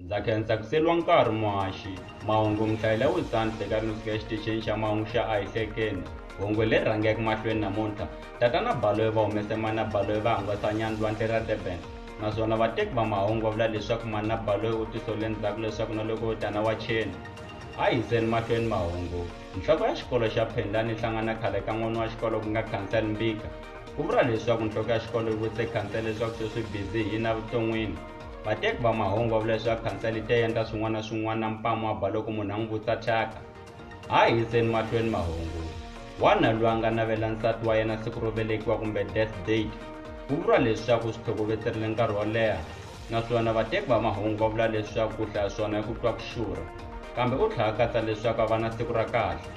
ndza khensa ku seliwa nkarhi muhaxi mahungu mihlayela wisani hleka ri ni fika exitichini xa mahungu xa ayihlekeni hungu leri rhangeke mahlweni namuntlha tatana baloyi va humese mana baloyi va hangalasa nyani lwandle ra durban naswona vateki va mahungu va vula leswaku mana baloyi u tisole ndzhaku leswaku na loko yo tana wa cheni A hi yiseni mahlweni mahungu. Nhloko ya xikolo xa Phendani yi hlangana khale ka n'wana wa xikolo ku nga Khansele Mbika. Ku vuriwa leswaku nhloko ya xikolo yi vutise khansele leswaku se swi bizi hi yini evuton'wini. Vateki va mahungu va vula leswaku khansele yi te endla swin'wana na swin'wana na mpamu wa ba loko munhu a n'wi vutisa thyaka. A hi yiseni mahlweni mahungu. Wanuna loyi a nga navela nsati wa yena siku ro velekiwa kumbe death date. Ku vuriwa leswaku u swi tlhokovetserile nkarhi wo leha. naswona vateki va mahungu va vula leswaku ku hlaya swona i ku twa ku xurha kambe u tlhela katsa leswaku a va na siku ra kahle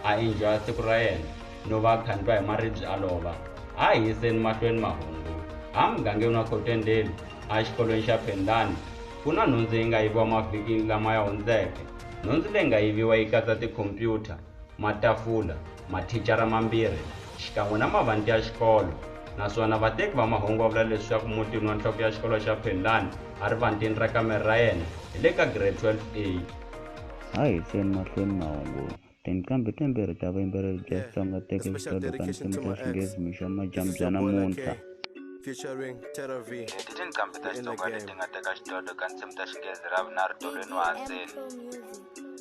a enjoya siku ra yena no va a khandliwa hi maribye a lova a hi yiseni mahlweni mahungu a mugangeni wa khotendeli a xikolweni xa phendlani ku na nhundzu yi nga yiviwa mavhikini lama ya hundzeke nhundzu leyi nga yiviwa yi katsa tikhompyuta matafula, mathicara mambirhi xikan'we na mavanti ya xikolo, naswona vateki va mahungu va vula leswaku mutini wa nhloko ya xikolo xa Phenlani erivantini ra kamere ra yena hi le ka Grade 12A. A hi yiseni mahlweni mahungu. Tinqambhi timbirhi ta vuyimbeleri bya Xitsonga ti teke swidlodlo swa tinsimu ta Xinghezi mixo wa madyambu bya namuntlha. I tinqambhi ta Xitsonga leti nga teka xidlodlo ka tinsimu ta Xinghezi ra vunharhu tolweni wa Hanseni.